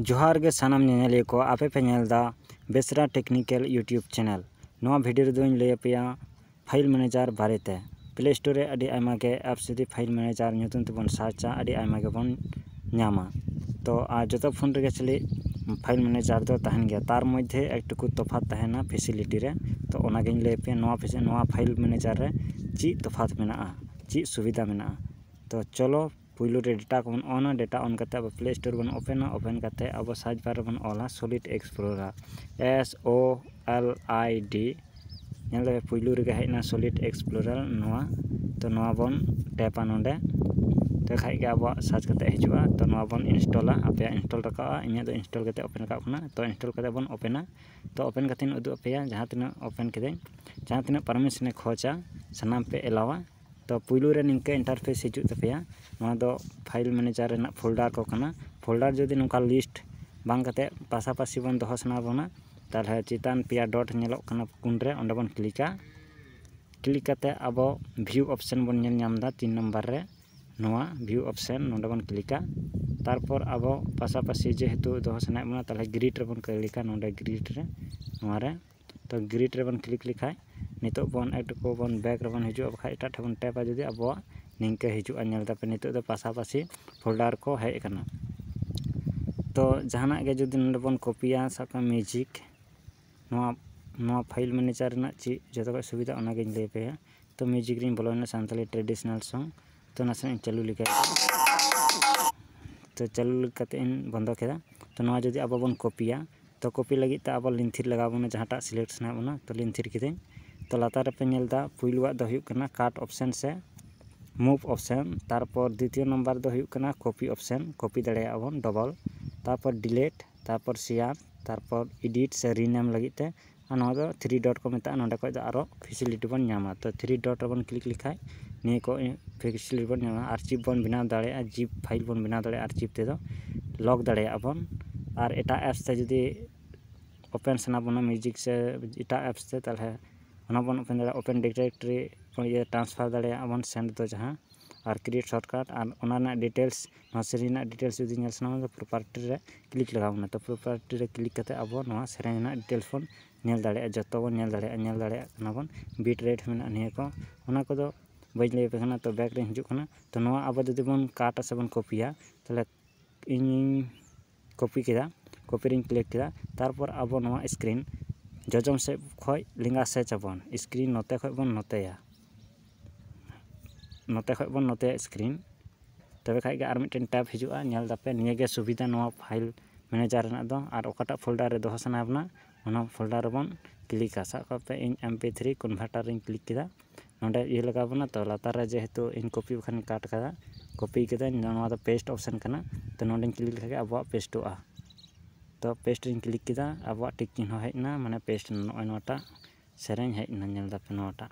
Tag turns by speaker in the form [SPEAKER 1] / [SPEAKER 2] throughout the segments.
[SPEAKER 1] ᱡᱚᱦᱟᱨ ᱜᱮ ᱥᱟᱱᱟᱢ ᱧᱮᱧᱮᱞᱤᱭᱟᱹ ᱠᱚ ᱟᱯᱮ ᱯᱮ ᱧᱮᱞ ᱮᱫᱟ ᱵᱮᱥᱨᱟ ᱴᱮᱠᱱᱤᱠᱮᱞ ᱤᱭᱩᱴᱩᱵᱽ ᱪᱮᱱᱮᱞ ᱱᱚᱣᱟ ᱵᱷᱤᱰᱤᱭᱳ ᱨᱮᱫᱚᱧ ᱞᱟᱹᱭ ᱟᱯᱮᱭᱟ ᱯᱷᱟᱭᱤᱞ ᱢᱮᱱᱮᱡᱟᱨ ᱵᱟᱨᱮᱛᱮ ᱯᱞᱮ ᱥᱴᱳᱨ ᱨᱮ ᱟᱹᱰᱤ ᱟᱭᱢᱟ ᱜᱮ ᱮᱯᱥ ᱡᱩᱫᱤ ᱯᱷᱟᱭᱤᱞ ᱢᱮᱱᱮᱡᱟᱨ ᱧᱩᱛᱩᱢ ᱛᱮᱵᱚᱱ ᱥᱟᱨᱪᱟ ᱟᱹᱰᱤ ᱟᱭᱢᱟ ᱜᱮᱵᱚᱱ ᱧᱟᱢᱟ ᱛᱚ ᱟᱨ ᱡᱚᱛᱚ ᱯᱷᱳᱱ ᱨᱮᱜᱮ ᱪᱮᱞᱮᱫ ᱯᱷᱟᱭᱤᱞ ᱢᱮᱱᱮᱡᱟᱨ ᱫᱚ ᱛᱟᱦᱮᱱ ᱜᱮᱭᱟ ᱛᱟᱨ ᱢᱚᱫᱽᱫᱷᱮ ᱮᱠ ᱴᱩᱠᱩ ᱛᱚᱯᱷᱟᱛ ᱛᱟᱦᱮᱱᱟ ᱯᱷᱮᱥᱤᱞᱤᱴᱤ ᱨᱮ ᱛᱚ ᱚᱱᱟᱜᱤᱧ ᱞᱟᱹᱭ ᱟᱯᱮᱭᱟ ᱱᱚᱣᱟ ᱯᱷᱮᱥᱤᱞᱤᱴᱤ ᱱᱚᱣᱟ ᱯᱷᱟᱭᱤᱞ ᱢᱮᱱᱮᱡᱟᱨ ᱨᱮ ᱪᱮᱫ ᱛᱚᱯᱷᱟᱛ ᱢᱮᱱᱟᱜᱼᱟ ᱪᱮᱫ ᱥᱩᱵᱤᱫᱷᱟ ᱢᱮᱱᱟᱜᱼᱟ ᱛᱚ ᱪᱚᱞᱚ ᱯᱳᱭᱞᱳ ᱨᱮ ᱰᱮᱴᱟ ᱠᱚᱵᱚᱱ ᱚᱱᱟ ᱰᱮᱴᱟ ᱚᱱ ᱠᱟᱛᱮᱫ ᱟᱵᱚ ᱯᱞᱮ ᱥᱴᱳᱨ ᱵᱚᱱ ᱳᱯᱮᱱᱟ ᱳᱯᱮᱱ ᱠᱟᱛᱮᱫ ᱟᱵᱚ ᱥᱟᱨᱪ ᱵᱟᱨ ᱨᱮᱵᱚᱱ ᱚᱞᱟ solid explorer S O L I D ᱧᱮᱞ ᱫᱟᱵᱮᱱ ᱯᱳᱭᱞᱳ ᱨᱮᱜᱮ ᱦᱮᱡ ᱮᱱᱟ ᱥᱚᱞᱤᱰ ᱮᱠᱥᱯᱞᱳᱨᱟᱨ ᱱᱚᱣᱟ ᱛᱳ ᱱᱚᱣᱟ ᱵᱚᱱ ᱴᱮᱯᱼᱟ ᱱᱚᱰᱮ ᱛᱚ ᱠᱷᱟᱱ ᱜᱮ ᱟᱵᱚᱣᱟᱜ ᱥᱟᱨᱪ ᱠᱟᱛᱮᱫ ᱦᱤᱡᱩᱜᱼᱟ ᱛᱳ ᱱᱚᱣᱟ ᱵᱚᱱ ᱤᱱᱥᱴᱚᱞᱟ ᱟᱯᱮᱭᱟᱜ ᱤᱱᱥᱴᱚᱞ ᱨᱟᱠᱟᱵᱼᱟ ᱤᱧᱟᱹᱜ ᱫᱚ ᱤᱱᱥᱴᱚᱞ ᱠᱟᱛᱮᱫ ᱳᱯᱮᱱ ᱨᱟᱠᱟᱵ ᱠᱟᱱᱟ ᱛᱳ ᱤᱱᱥᱴᱚᱞ ᱠᱟᱛᱮᱫ ᱵᱚᱱ ᱳᱯᱮᱱᱟ ᱛᱳ ᱳᱯᱮᱱ ᱠᱟᱛᱮᱫ ᱤᱧ ᱩᱫᱩᱜ ᱟᱯᱮᱭᱟ ᱡᱟᱦᱟᱸ ᱛᱤᱱᱟᱹᱜ ᱳᱯᱮᱱ ᱠᱤᱫᱟᱹᱧ ᱡᱟᱦᱟᱸ ᱛᱤᱱᱟᱹᱜ ᱯᱟᱨᱢᱤᱥᱮᱱᱮ ᱠᱷᱚᱡᱟ ᱥᱟᱱᱟᱢ ᱯᱮ ᱮᱞᱟᱣᱟ ᱛᱚ ᱯᱳᱭᱞᱳ ᱨᱮ ᱱᱤᱝᱠᱟᱹ ᱤᱱᱴᱟᱨᱯᱷᱮᱥ ᱦᱤᱡᱩᱜ ᱛᱟᱯᱮᱭᱟ ᱱᱚᱣᱟ ᱫᱚ ᱯᱷᱟᱭᱤᱞ ᱢᱮᱱᱮᱡᱟᱨ ᱨᱮᱱᱟᱜ ᱯᱷᱳᱞᱰᱟᱨ ᱠᱚ ᱠᱟᱱᱟ ᱯᱷᱳᱞᱰᱟᱨ ᱡᱩᱫᱤ ᱱᱚᱝᱠᱟ ᱞᱤᱥᱴ ᱵᱟᱝ ᱠᱟᱛᱮᱫ ᱯᱟᱥᱟᱯᱟᱥᱤ ᱵᱚᱱ ᱫᱚᱦᱚ ᱥᱟᱱᱟ ᱵᱚᱱᱟ ᱛᱟᱦᱚᱞᱮ ᱪᱮᱛᱟᱱ ᱯᱮᱭᱟ ᱰᱚᱴ ᱧᱮᱞᱚᱜ ᱠᱟᱱᱟ ᱠᱳᱱ ᱨᱮ ᱚᱸᱰᱮ ᱵᱚᱱ ᱠᱞᱤᱠᱟ ᱠᱞᱤᱠ ᱠᱟᱛᱮᱫ ᱟᱵᱚ ᱵᱷᱤᱭᱩ ᱚᱯᱷᱥᱮᱱ ᱵᱚᱱ ᱧᱮᱞ ᱧᱟᱢᱫᱟ ᱛᱤᱱ ᱱᱟᱢᱵᱟᱨ ᱨᱮ ᱱᱚᱣᱟ ᱵᱷᱤᱭᱩ ᱚᱯᱷᱥᱮᱱ ᱱᱚᱰᱮ ᱵᱚᱱ ᱠᱞᱤᱠᱟ ᱛᱟᱨᱯᱚᱨ ᱟᱵᱚ ᱯᱟᱥᱟᱯᱟᱥᱤ ᱡᱮᱦᱮᱛᱩ ᱫᱚᱦᱚ ᱥᱟᱱᱟᱭᱮᱫ ᱵᱚᱱᱟ ᱛᱟᱦᱚᱞᱮ ᱜᱨᱤᱰ ᱨᱮᱵᱚᱱ ᱠᱞᱤᱠᱟ ᱱᱚᱰᱮ ᱜᱨᱤᱰ ᱨᱮ ᱱᱚᱣᱟᱨᱮ ᱛᱚ ᱜᱨᱤᱰ ᱨᱮᱵᱚᱱ ᱠᱞᱤᱠ ᱞᱮᱠᱷᱟᱡ ᱱᱤᱛᱚᱜ ᱵᱚᱱ ᱮᱴᱩᱠᱩ ᱵᱚᱱ ᱵᱮᱠ ᱨᱮᱵᱚᱱ ᱦᱤᱡᱩᱜᱼᱟ ᱵᱟᱠᱷᱟᱡ ᱮᱴᱟᱜ ᱴᱷᱮᱡ ᱵᱚᱱ ᱴᱮᱯᱟ ᱡᱩᱫᱤ ᱟᱵᱚᱣᱟᱜ ᱱᱤᱝᱠᱟᱹ ᱦᱤᱡᱩᱜᱼᱟ ᱧᱮᱞ ᱫᱟᱯᱮ ᱱᱤᱛᱚᱜ ᱫᱚ ᱯᱟᱥᱟᱯᱟᱥᱤ ᱯᱷᱳᱞᱰᱟᱨ ᱠᱚ ᱦᱮᱡ ᱠᱟᱱᱟ ᱛᱚ ᱡᱟᱦᱟᱱᱟᱜ ᱜᱮ ᱡᱩᱫᱤ ᱱᱚᱰᱮ ᱵᱚᱱ ᱠᱚᱯᱤᱭᱟ ᱥᱟᱵ ᱠᱟᱜ ᱢᱮ ᱢᱤᱭᱩᱡᱤᱠ ᱱᱚᱣᱟ ᱱᱚᱣᱟ ᱯᱷᱟᱭᱤᱞ ᱢᱮᱱᱮᱡᱟᱨ ᱨᱮᱱᱟᱜ ᱪᱮᱫ ᱡᱚᱛᱚ ᱠᱷᱚᱡ ᱥᱩᱵᱤᱫᱷᱟ ᱚᱱᱟᱜᱤᱧ ᱞᱟᱹᱭ ᱟᱯᱮᱭᱟ ᱛᱚ ᱢᱤᱭᱩᱡᱤᱠ ᱨᱮᱧ ᱵᱚᱞᱚᱭᱮᱱᱟ ᱥᱟᱱᱛᱟᱲᱤ ᱴᱨᱮᱰᱤᱥᱚᱱᱟᱞ ᱥᱚᱝ ᱛᱚ ᱱᱟᱥᱮᱱᱟᱜ ᱤᱧ ᱪᱟᱹᱞᱩ ᱞᱮᱜᱟᱭ ᱫᱟ ᱛᱚ ᱪᱟᱹᱞᱩ ᱠᱟᱛᱮᱫ ᱤᱧ ᱵᱚᱱᱫᱚ ᱠᱮᱫᱟ ᱛᱚ ᱱᱚᱣᱟ ᱡᱩᱫᱤ ᱟᱵᱚ ᱵᱚᱱ ᱠᱚᱯᱤᱭᱟ ᱛᱚ ᱠᱚᱯᱤ ᱞᱟᱹᱜᱤᱫ ᱛᱮ ᱟᱵᱚ ᱞᱤᱱ ᱛᱷᱤᱨ ᱞᱟᱜᱟᱣ ᱵᱚᱱᱟ ᱡᱟᱦᱟᱸᱴᱟᱜ ᱥᱤᱞᱮᱠᱴ ᱥᱟᱱᱟᱭᱮᱫ ᱵᱚᱱᱟ ᱛᱚ ᱞᱤᱱ ᱛᱷᱤᱨ ᱠᱤᱫᱟᱹᱧ ᱛᱚ ᱞᱟᱛᱟᱨ ᱨᱮᱯᱮ ᱧᱮᱞ ᱮᱫᱟ ᱯᱩᱭᱞᱩᱣᱟᱜ ᱫᱚ ᱦᱩᱭᱩᱜ ᱠᱟᱱᱟ ᱠᱟᱴ ᱚᱯᱥᱮᱱ ᱥᱮ ᱢᱩᱵᱷ ᱚᱯᱥᱮᱱ ᱛᱟᱨᱯᱚᱨ ᱫᱤᱛᱤᱭᱚ ᱱᱟᱢᱵᱟᱨ ᱫᱚ ᱦᱩᱭᱩᱜ ᱠᱟᱱᱟ ᱠᱚᱯᱤ ᱚᱯᱥᱮᱱ ᱠᱚᱯᱤ ᱫᱟᱲᱮᱭᱟᱜᱼᱟ ᱵᱚᱱ ᱰᱚᱵᱚᱞ ᱛᱟᱨᱯᱚᱨ ᱰᱤᱞᱮᱴ ᱛᱟᱨᱯᱚᱨ ᱥᱮᱭᱟᱨ ᱛᱟᱨᱯᱚᱨ ᱮᱰᱤᱴ ᱥᱮ ᱨᱤᱱᱮᱢ ᱞᱟᱹᱜᱤᱫ ᱛᱮ ᱟᱨ ᱱᱚᱣᱟ ᱫᱚ ᱛᱷᱨᱤ ᱰᱚᱴ ᱠᱚ ᱢᱮᱛᱟᱜᱼᱟ ᱱᱚᱰᱮ ᱠᱷᱚᱡ ᱫᱚ ᱟᱨᱚ ᱯᱷᱮᱥᱮᱞᱤᱴᱤ ᱵᱚᱱ ᱧᱟᱢᱟ ᱛᱚ ᱛᱷᱨᱤ ᱰᱚᱴ ᱨᱮᱵᱚᱱ ᱠᱞᱤᱠ ᱞᱮᱠᱷᱟᱡ ᱱᱤᱭᱟᱹ ᱠᱚ ᱯᱷᱮᱥᱮᱞᱤᱴᱤ ᱵᱚᱱ ᱧᱟᱢᱟ ᱟᱨ ᱪᱮᱫ ᱵᱚᱱ ᱵᱮᱱᱟᱣ ᱫᱟᱲᱮᱭᱟᱜᱼᱟ ᱡᱤᱯ ᱯᱷᱟᱭᱤᱞ ᱵᱚᱱ ᱵᱮᱱᱟᱣ ᱫᱟᱲᱮᱭᱟᱜᱼᱟ ᱟᱨ ᱡᱤᱯ ᱛᱮᱫᱚ ᱞᱚᱠ ᱫᱟᱲᱮᱭᱟᱜᱼᱟ ᱵᱚᱱ ᱟᱨ ᱮᱴᱟᱜ ᱮᱯᱥ ᱛᱮ ᱡᱩᱫᱤ ᱳᱯᱮᱱ ᱥᱟᱱᱟ ᱵᱚᱱᱟ ᱢᱤᱣᱡᱤᱠ ᱥᱮ ᱮᱴᱟᱜ ᱮᱯᱥ ᱛᱮ ᱛᱟᱦᱚᱞᱮ ᱚᱱᱟ ᱵᱚᱱ ᱳᱯᱮᱱ ᱫᱟᱲᱮᱭᱟᱜᱼᱟ ᱳᱯᱮᱱ ᱰᱤᱨᱮᱠᱴᱨᱤ ᱴᱨᱟᱱᱥᱯᱷᱟᱨ ᱫᱟᱲᱮᱭᱟᱜᱼᱟ ᱵᱚᱱ ᱥᱮᱱᱴ ᱫᱚ ᱡᱟᱦᱟᱸ ᱟᱨ ᱠᱨᱤᱭᱮᱴ ᱥᱚᱨᱴ ᱠᱟᱨᱰ ᱟᱨ ᱚᱱᱟ ᱨᱮᱱᱟᱜ ᱰᱤᱴᱮᱞᱥ ᱱᱚᱣᱟ ᱥᱮᱨᱮᱧ ᱨᱮᱱᱟᱜ ᱰᱤᱴᱮᱞᱥ ᱡᱩᱫᱤ ᱧᱮᱞ ᱥᱟᱱᱟ ᱢᱮᱭᱟ ᱯᱨᱚᱯᱟᱨᱴᱤ ᱨᱮ ᱠᱞᱤᱠ ᱞᱟᱜᱟᱣ ᱵᱚᱱᱟ ᱛᱚ ᱯᱨᱚᱯᱟᱨᱴᱤ ᱨᱮ ᱠᱞᱤᱠ ᱠᱟᱛᱮᱫ ᱟᱵᱚ ᱱᱚᱣᱟ ᱥᱮᱨᱮᱧ ᱨᱮᱱᱟᱜ ᱰᱤᱴᱮᱞᱥ ᱵᱚᱱ ᱧᱮᱞ ᱫᱟᱲᱮᱭᱟᱜᱼᱟ ᱡᱚᱛᱚ ᱵᱚᱱ ᱧᱮᱞ ᱫᱟᱲᱮᱭᱟᱜᱼᱟ ᱧᱮᱞ ᱫᱟᱲᱮᱭᱟᱜ ᱠᱟᱱᱟ ᱵᱚᱱ ᱵᱤᱴ ᱨᱮᱴ ᱦᱚᱸ ᱢᱮᱱᱟᱜᱼᱟ ᱱᱤᱭᱟᱹ ᱠᱚ ᱚᱱᱟ ᱠᱚᱫᱚ ᱵᱟᱹᱧ ᱞᱟᱹᱭ ᱟᱯᱮ ᱠᱟᱱᱟ ᱛᱚ ᱵᱮᱠ ᱨᱤᱧ ᱦᱤᱡᱩᱜ ᱠᱟᱱᱟ ᱛᱚ ᱱᱚᱣᱟ ᱟᱵᱚ ᱡᱩᱫᱤ ᱵᱚᱱ ᱠᱟᱴ ᱟᱥᱮ ᱵᱚᱱ ᱠᱚᱯᱤᱭᱟ ᱛᱟᱦᱚᱞᱮ ᱤᱧᱤᱧ ᱠᱚᱯᱤ ᱠᱮᱫᱟ ᱠᱚᱯᱤ ᱨᱤᱧ ᱠᱞᱤᱠ ᱠᱮᱫᱟ ᱛᱟᱨᱯᱚᱨ ᱟᱵᱚ ᱱᱚᱣᱟ ᱥᱠᱨᱤᱱ ᱡᱚᱡᱚᱢ ᱥᱮᱫ ᱠᱷᱚᱱ ᱞᱮᱸᱜᱟ ᱥᱮᱫ ᱟᱵᱚᱱ ᱥᱠᱨᱤᱱ ᱱᱚᱛᱮ ᱠᱷᱚᱱ ᱵᱚᱱ ᱱᱚᱛᱮᱭᱟ ᱱᱚᱛᱮ ᱠᱷᱚᱱ ᱵᱚᱱ ᱱᱚᱛᱮᱭᱟ ᱥᱠᱨᱤᱱ ᱛᱚᱵᱮ ᱠᱷᱟᱱ ᱜᱮ ᱟᱨ ᱢᱤᱫᱴᱮᱱ ᱴᱮᱵᱽ ᱦᱤᱡᱩᱜᱼᱟ ᱧᱮᱞ ᱮᱫᱟᱯᱮ ᱱᱤᱭᱟᱹᱜᱮ ᱥᱩᱵᱤᱫᱷᱟ ᱱᱚᱣᱟ ᱯᱷᱟᱭᱤᱞ ᱢᱮᱱᱮᱡᱟᱨ ᱨᱮᱱᱟᱜ ᱫᱚ ᱟᱨ ᱚᱠᱟᱴᱟᱜ ᱯᱷᱳᱞᱰᱟᱨ ᱨᱮ ᱫᱚᱦᱚ ᱥᱟᱱᱟ ᱵᱚᱱᱟ ᱚᱱᱟ ᱯᱷᱳᱞᱰᱟᱨ ᱨᱮᱵᱚᱱ ᱠᱞᱤᱠᱟ ᱥᱟᱵ ᱠᱟᱜ ᱯᱮ ᱤᱧ ᱮᱢ ᱯᱤ ᱛᱷᱨᱤ ᱠᱚᱱᱵᱷᱟᱨᱴᱟᱨ ᱨᱤᱧ ᱠᱞᱤᱠ ᱠᱮᱫᱟ ᱱᱚᱰᱮ ᱤᱭᱟᱹ ᱞᱟᱜᱟᱣ ᱵᱚᱱᱟ ᱛᱚ ᱞᱟᱛᱟᱨ ᱨᱮ ᱡᱮᱦᱮᱛᱩ ᱤᱧ ᱠᱚᱯᱤ ᱵᱟᱠᱷᱟᱱ ᱤᱧ ᱠᱟᱴ ᱠᱟᱫᱟ ᱠᱚᱯᱤ ᱠᱟᱹᱫᱟᱹᱧ ᱱᱚᱣᱟ ᱫᱚ ᱯᱮᱥᱴ ᱚᱯᱷᱥᱮᱱ ᱠᱟᱱᱟ ᱛᱚ ᱱᱚᱰᱮᱧ ᱠᱞᱤᱠ ᱞᱮᱠᱷᱟᱡ ᱜᱮ ᱟᱵᱚᱣᱟᱜ ᱯᱮᱥᱴᱚᱜᱼᱟ ᱛᱚ ᱯᱮᱥᱴ ᱨᱤᱧ ᱠᱞᱤᱠ ᱠᱮᱫᱟ ᱟᱵᱚᱣᱟᱜ ᱴᱤᱠ ᱪᱤᱱᱦᱟᱹ ᱦᱮᱡ ᱮᱱᱟ ᱢᱟᱱᱮ ᱯᱮᱥᱴ ᱮᱱᱟ ᱱᱚᱜᱼᱚᱭ ᱱᱚᱣᱟᱴᱟᱜ ᱥᱮᱨᱮᱧ ᱦᱮᱡ ᱮᱱᱟ ᱧᱮᱞ ᱫᱟᱯᱮ ᱱᱚᱣᱟᱴᱟᱜ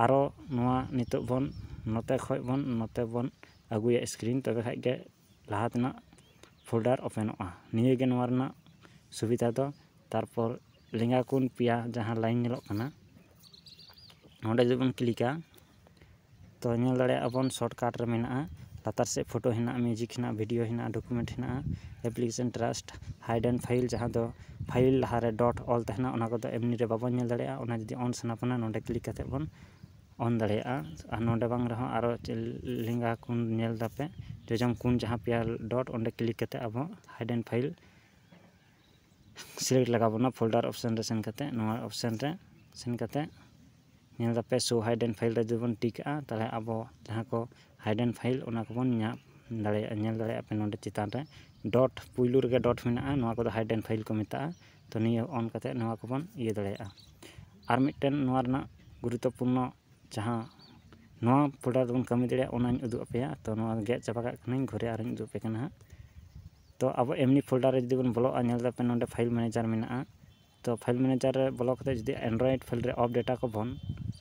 [SPEAKER 1] ᱟᱨᱚ ᱱᱚᱣᱟ ᱱᱤᱛᱚᱜ ᱵᱚᱱ ᱱᱚᱛᱮ ᱠᱷᱚᱡ ᱵᱚᱱ ᱱᱚᱛᱮ ᱵᱚᱱ ᱟᱹᱜᱩᱭᱟ ᱥᱠᱨᱤᱱ ᱛᱚᱵᱮ ᱠᱷᱟᱡ ᱜᱮ ᱞᱟᱦᱟ ᱛᱮᱱᱟᱜ ᱯᱷᱳᱞᱰᱟᱨ ᱳᱯᱮᱱᱚᱜᱼᱟ ᱱᱤᱭᱟᱹᱜᱮ ᱱᱚᱣᱟ ᱨᱮᱱᱟᱜ ᱥᱩᱵᱤᱫᱷᱟ ᱫᱚ ᱛᱟᱨᱯᱚᱨ ᱞᱮᱸᱜᱟ ᱠᱚᱱ ᱯᱮᱭᱟ ᱡᱟᱦᱟᱸ ᱞᱟᱭᱤᱱ ᱧᱮᱞᱚᱜ ᱠᱟᱱᱟ ᱱᱚᱰᱮ ᱡᱩᱫᱤ ᱵᱚᱱ ᱠᱞᱤᱠᱟ ᱛᱚ ᱧᱮᱞ ᱫᱟᱲᱮᱭᱟᱜᱼᱟ ᱵᱚᱱ ᱥᱚᱨᱴᱠᱟᱨᱴ ᱨᱮ ᱢᱮᱱᱟᱜᱼᱟ ᱞᱟᱛᱟᱨ ᱥᱮᱫ ᱯᱷᱳᱴᱳ ᱦᱮᱱᱟᱜᱼᱟ ᱢᱤᱭᱩᱡᱤᱠ ᱦᱮᱱᱟᱜᱼᱟ ᱵᱷᱤᱰᱭᱳ ᱦᱮᱱᱟᱜᱼᱟ ᱰᱚᱠᱳᱢᱮᱱᱴ ᱦᱮᱱᱟᱜᱼᱟ application trash hide and file ᱡᱟᱦᱟᱸ ᱫᱚ ᱯᱷᱟᱭᱤᱞ ᱞᱟᱦᱟᱨᱮ ᱰᱚᱴ ᱚᱞ ᱛᱟᱦᱮᱱᱟ ᱚᱱᱟ ᱠᱚᱫᱚ ᱮᱢᱱᱤ ᱨᱮ ᱵᱟᱵᱚᱱ ᱧᱮᱞ ᱫᱟᱲᱮᱭᱟᱜᱼᱟ ᱚᱱᱟ ᱡᱩᱫᱤ ᱚᱱ ᱥᱟᱱᱟ ᱵᱚᱱᱟ ᱱᱚᱰᱮ ᱠᱞᱤᱠ ᱠᱟᱛᱮᱫ ᱵᱚᱱ ᱚᱱ ᱫᱟᱲᱮᱭᱟᱜᱼᱟ ᱟᱨ ᱱᱚᱰᱮ ᱵᱟᱝ ᱨᱮᱦᱚᱸ ᱟᱨᱚ ᱞᱮᱸᱜᱟ ᱠᱚᱱ ᱧᱮᱞ ᱫᱟᱯᱮ ᱡᱚᱡᱚᱢ ᱠᱚᱱ ᱡᱟᱦᱟᱸ ᱯᱮᱭᱟ ᱰᱚᱴ ᱚᱸᱰᱮ ᱠᱞᱤᱠ ᱠᱟᱛᱮᱫ ᱟᱵᱚ ᱦᱟᱭᱤᱰ ᱮᱱᱰ ᱯᱷᱟᱭᱤᱞ ᱥᱤᱞᱮᱠᱴ ᱞᱟᱜᱟᱣ ᱵᱚᱱᱟ ᱯᱷᱳᱞᱰᱟᱨ ᱚᱯᱷᱥᱮᱱ ᱨᱮ ᱥᱮᱱ ᱠᱟᱛᱮᱫ ᱱᱚᱣᱟ ᱚᱯᱷᱥᱮᱱ ᱨᱮ ᱥᱮᱱ ᱠᱟᱛᱮᱫ ᱧᱮᱞ ᱫᱟᱯᱮ ᱥᱳ ᱦᱟᱭᱤᱰ ᱮᱱᱰ ᱯᱷᱟᱭᱤᱞ ᱨᱮ ᱡᱩᱫᱤ ᱵᱚᱱ ᱴᱤᱠ ᱟᱜᱼᱟ ᱛᱟᱦᱚᱞᱮ ᱟᱵᱚ ᱡᱟᱦᱟᱸ ᱠᱚ ᱦᱟᱭᱤᱰ ᱮᱱᱰ ᱯᱷᱟᱭᱤᱞ ᱚᱱᱟ ᱠᱚᱵᱚᱱ ᱧᱟᱢ ᱫᱟᱲᱮᱭᱟᱜᱼᱟ ᱧᱮᱞ ᱫᱟᱲᱮᱭᱟᱜᱼᱟ ᱯᱮ ᱱᱚᱰᱮ ᱪᱮᱛᱟᱱ ᱨᱮ ᱰᱚᱴ ᱯᱳᱭᱞᱳ ᱨᱮᱜᱮ ᱰᱚᱴ ᱢᱮᱱᱟᱜᱼᱟ ᱱᱚᱣᱟ ᱠᱚᱫᱚ ᱦᱟᱭᱤᱰ ᱮᱱᱰ ᱯᱷᱟᱭᱤᱞ ᱠᱚ ᱢᱮᱛᱟᱜᱼᱟ ᱛᱚ ᱱᱤᱭᱟᱹ ᱚᱱ ᱠᱟᱛᱮᱫ ᱱᱚᱣᱟ ᱠᱚᱵᱚᱱ ᱤᱭᱟᱹ ᱫᱟᱲᱮᱭᱟᱜᱼᱟ ᱟᱨ ᱢᱤᱫᱴᱮᱱ ᱱᱚᱣᱟ ᱨᱮᱱᱟᱜ ᱜᱩᱨᱩᱛᱛᱚᱯᱩᱨᱱᱚ ᱡᱟᱦᱟᱸ ᱱᱚᱣᱟ ᱯᱨᱚᱰᱟᱠᱴ ᱨᱮᱵᱚᱱ ᱠᱟᱹᱢᱤ ᱫᱟᱲᱮᱭᱟᱜᱼᱟ ᱚᱱᱟᱧ ᱩᱫᱩᱜ ᱟᱯᱮᱭᱟ ᱛᱚ ᱱᱚᱣᱟ ᱜᱮᱫ ᱪᱟᱵᱟ ᱠᱟᱜ ᱠᱟᱹᱱᱟᱹᱧ ᱜᱷᱩᱨᱮ ᱟᱨᱚᱧ ᱩᱫᱩᱜ ᱟᱯᱮ ᱠᱟᱱᱟ ᱦᱟᱸᱜ ᱛᱚ ᱟᱵᱚ ᱮᱢᱱᱤ ᱯᱷᱳᱞᱰᱟᱨ ᱨᱮ ᱡᱩᱫᱤ ᱵᱚᱱ ᱵᱚᱞᱚᱜᱼᱟ ᱧᱮᱞ ᱫᱟᱯᱮ ᱱᱚᱰᱮ ᱯᱷᱟᱭᱤᱞ ᱢᱮᱱᱮᱡᱟᱨ ᱢᱮᱱᱟᱜᱼᱟ ᱛᱚ ᱯᱷᱟᱭᱤᱞ ᱢᱮᱱᱮᱡᱟᱨ ᱨᱮ ᱵᱚᱞᱚ ᱠᱟᱛᱮᱫ ᱡᱩᱫᱤ ᱮᱱᱰᱨᱚᱭᱮᱰ ᱯᱷᱟᱭᱤᱞ ᱨᱮ ᱚᱯᱷ ᱰᱮᱴᱟ ᱠᱚᱵᱚᱱ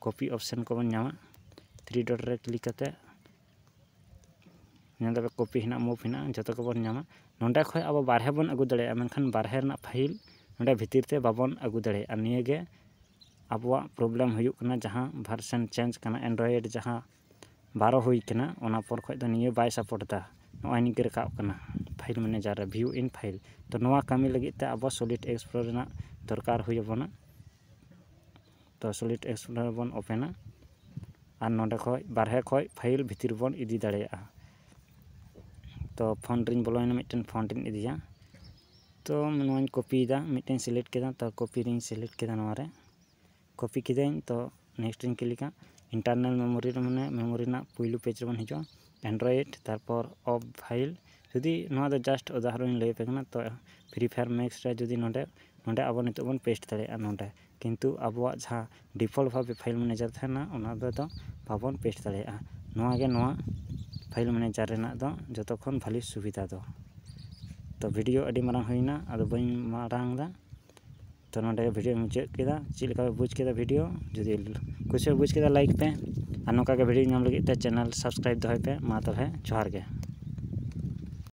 [SPEAKER 1] ᱠᱚᱯᱤ ᱚᱯᱷᱥᱮᱱ ᱠᱚᱵᱚᱱ ᱧᱟᱢᱟ ᱛᱷᱨᱤ ᱰᱚᱴ ᱨᱮ ᱠᱞᱤᱠ ᱠᱟᱛᱮᱫ ᱧᱮᱞ ᱫᱟᱵᱚᱱ ᱠᱚᱯᱤ ᱦᱮᱱᱟᱜ ᱢᱩᱵᱷ ᱦᱮᱱᱟᱜᱼᱟ ᱡᱚᱛᱚ ᱜᱮᱵᱚᱱ ᱧᱟᱢᱟ ᱱᱚᱸᱰᱮ ᱠᱷᱚᱱ ᱟᱵᱚ ᱵᱟᱦᱨᱮ ᱵᱚᱱ ᱟᱹᱜᱩ ᱫᱟᱲᱮᱭᱟᱜᱼᱟ ᱢᱮᱱᱠᱷᱟᱱ ᱵᱟᱦᱨᱮ ᱨᱮᱱᱟᱜ ᱯᱷᱟᱭᱤᱞ ᱱᱚᱸᱰᱮ ᱵᱷᱤᱛᱤᱨ ᱛᱮ ᱵᱟᱵᱚᱱ ᱟᱹᱜᱩ ᱫᱟᱲᱮᱭᱟᱜᱼᱟ ᱱᱤᱭᱟᱹᱜᱮ ᱟᱵᱚᱣᱟᱜ ᱯᱨᱚᱵᱞᱮᱢ ᱦᱩᱭᱩᱜ ᱠᱟᱱᱟ ᱡᱟᱦᱟᱸ ᱵᱷᱟᱨᱥᱮᱱ ᱪᱮᱧᱡᱽ ᱠᱟᱱᱟ ᱮᱱᱰᱨᱚᱭᱮᱰ ᱡᱟᱦᱟᱸ ᱵᱟᱨᱚ ᱦᱩᱭ ᱠᱟᱱᱟ ᱚᱱᱟ ᱯᱚᱨ ᱠᱷᱚᱱ ᱫᱚ ᱱᱤᱭᱟᱹ ᱵᱟᱭ ᱥᱟᱯᱳᱨᱴ ᱮᱫᱟ ᱱᱚᱜᱼᱚᱭ ᱱᱤᱝᱠᱟᱹ ᱨᱟᱠᱟᱵ ᱠᱟᱱᱟ ᱯᱷᱟᱭᱤᱞ ᱢᱮᱱᱮᱡᱟᱨ ᱨᱮ ᱵᱷᱤᱭᱩ ᱤᱱ ᱯᱷᱟᱭᱤᱞ ᱛᱳ ᱱᱚᱣᱟ ᱠᱟᱹᱢᱤ ᱞᱟᱹᱜᱤᱫ ᱛᱮ ᱟᱵᱚ ᱥᱚᱞᱤᱰ ᱮᱠᱥᱯᱨᱳ ᱨᱮᱱᱟᱜ ᱫᱚᱨᱠᱟᱨ ᱦᱩᱭ ᱟᱵᱚᱱᱟ ᱛᱚ ᱥᱚᱞᱤᱰ ᱮᱠᱥᱯᱞᱳᱨᱟᱨ ᱵᱚᱱ ᱳᱯᱮᱱᱟ ᱟᱨ ᱱᱚᱸᱰᱮ ᱠᱷᱚᱱ ᱵᱟᱨᱦᱮ ᱠᱷᱚᱱ ᱯᱷᱟᱭᱤᱞ ᱵᱷᱤᱛᱤᱨ ᱨᱮᱵᱚᱱ ᱤᱫᱤ ᱫᱟᱲᱮᱭᱟᱜᱼᱟ ᱛᱚ ᱯᱷᱳᱱ ᱨᱤᱧ ᱵᱚᱞᱚᱭᱮᱱᱟ ᱢᱤᱫᱴᱮᱱ ᱯᱷᱳᱱ ᱨᱤᱧ ᱤᱫᱤᱭᱟ ᱛᱚ ᱱᱚᱣᱟᱧ ᱠᱚᱯᱤᱭᱮᱫᱟ ᱢᱤᱫᱴᱮᱱ ᱥᱤᱞᱮᱠᱴ ᱠᱮᱫᱟ ᱛᱚ ᱠᱚᱯᱤ ᱨᱤᱧ ᱥᱤᱞᱮᱠᱴ ᱠᱮᱫᱟ ᱱᱚᱣᱟ ᱨᱮ ᱠᱚᱯᱤ ᱠᱤᱫᱟᱹᱧ ᱛᱚ ᱱᱮᱠᱥᱴ ᱨᱤᱧ ᱠᱞᱤᱠᱟ ᱤᱱᱴᱟᱨᱱᱟᱞ ᱢᱮᱢᱳᱨᱤ ᱨᱮ ᱢᱟᱱᱮ ᱢᱮᱢᱳᱨᱤ ᱨᱮᱱᱟᱜ ᱯᱩᱭᱞᱩ ᱯᱮᱡᱽ ᱨᱮᱵᱚᱱ ᱦᱤᱡᱩᱜᱼᱟ ᱮᱱᱰᱨᱚᱭᱮᱰ ᱛᱟᱨᱯᱚᱨ ᱚᱯᱷ ᱯᱷᱟᱭᱤᱞ ᱡᱩᱫᱤ ᱱᱚᱣᱟ ᱫᱚ ᱡᱟᱥᱴ ᱩᱫᱟᱦᱚᱨᱚᱱᱤᱧ ᱞᱟᱹᱭᱟᱯᱮ ᱠᱟᱱᱟ ᱛᱚ ᱯᱷᱨᱤ ᱯᱷᱟᱭᱟᱨ ᱢᱮᱠᱥ ᱨᱮ ᱡᱩᱫᱤ ᱱᱚᱸᱰᱮ ᱱᱚᱸᱰᱮ ᱟᱵᱚ ᱱᱤᱛᱚᱜ ᱵᱚᱱ ᱯᱮᱥᱴ ᱫᱟᱲᱮᱭᱟᱜᱼᱟ ᱱᱚᱸᱰᱮ ᱠᱤᱱᱛᱩ ᱟᱵᱚᱣᱟᱜ ᱡᱟᱦᱟᱸ ᱰᱤᱯᱷᱚᱞᱴ ᱵᱷᱟᱵᱮ ᱯᱷᱟᱭᱤᱞ ᱢᱮᱱᱮᱡᱟᱨ ᱛᱟᱦᱮᱱᱟ ᱚᱱᱟ ᱨᱮᱫᱚ ᱵᱟᱵᱚᱱ ᱯᱮᱥᱴ ᱫᱟᱲᱮᱭᱟᱜᱼᱟ ᱱᱚᱣᱟᱜᱮ ᱱᱚᱣᱟ ᱯᱷᱟᱭᱤᱞ ᱢᱮᱱᱮᱡᱟᱨ ᱨᱮᱱᱟᱜ ᱫᱚ ᱡᱚᱛᱚ ᱠᱷᱚᱱ ᱵᱷᱟᱹᱞᱤ ᱥᱩᱵᱤᱫᱷᱟ ᱫᱚ ᱛᱳ ᱵᱷᱤᱰᱭᱳ ᱟᱹᱰᱤ ᱢᱟᱨᱟᱝ ᱦᱩᱭᱱᱟ ᱟᱫᱚ ᱵᱟᱹᱧ ᱢᱟᱨᱟᱝ ᱮᱫᱟ ᱛᱳ ᱱᱚᱰᱮ ᱵᱷᱤᱰᱭᱳᱧ ᱢᱩᱪᱟᱹᱫ ᱠᱮᱫᱟ ᱪᱮᱫ ᱞᱮᱠᱟ ᱯᱮ ᱵᱩᱡᱽ ᱠᱮᱫᱟ ᱵᱷᱤᱰᱭᱳ ᱡᱩᱫᱤ ᱠᱩᱥᱤ ᱯᱮ ᱵᱩᱡᱽ ᱠᱮᱫᱟ ᱞᱟᱭᱤᱠ ᱯᱮ ᱟᱨ ᱱᱚᱝᱠᱟᱜᱮ ᱵᱷᱤᱰᱭᱳ ᱧᱟᱢ ᱞᱟᱹᱜᱤᱫ ᱛᱮ ᱪᱮᱱᱮᱞ ᱥᱟᱵᱥᱠᱨᱟᱭᱤᱵᱽ ᱫᱚᱦᱚᱭ ᱯᱮ ᱢᱟ ᱛᱟᱦᱚᱞᱮ ᱡᱚᱦᱟᱨ ᱜᱮ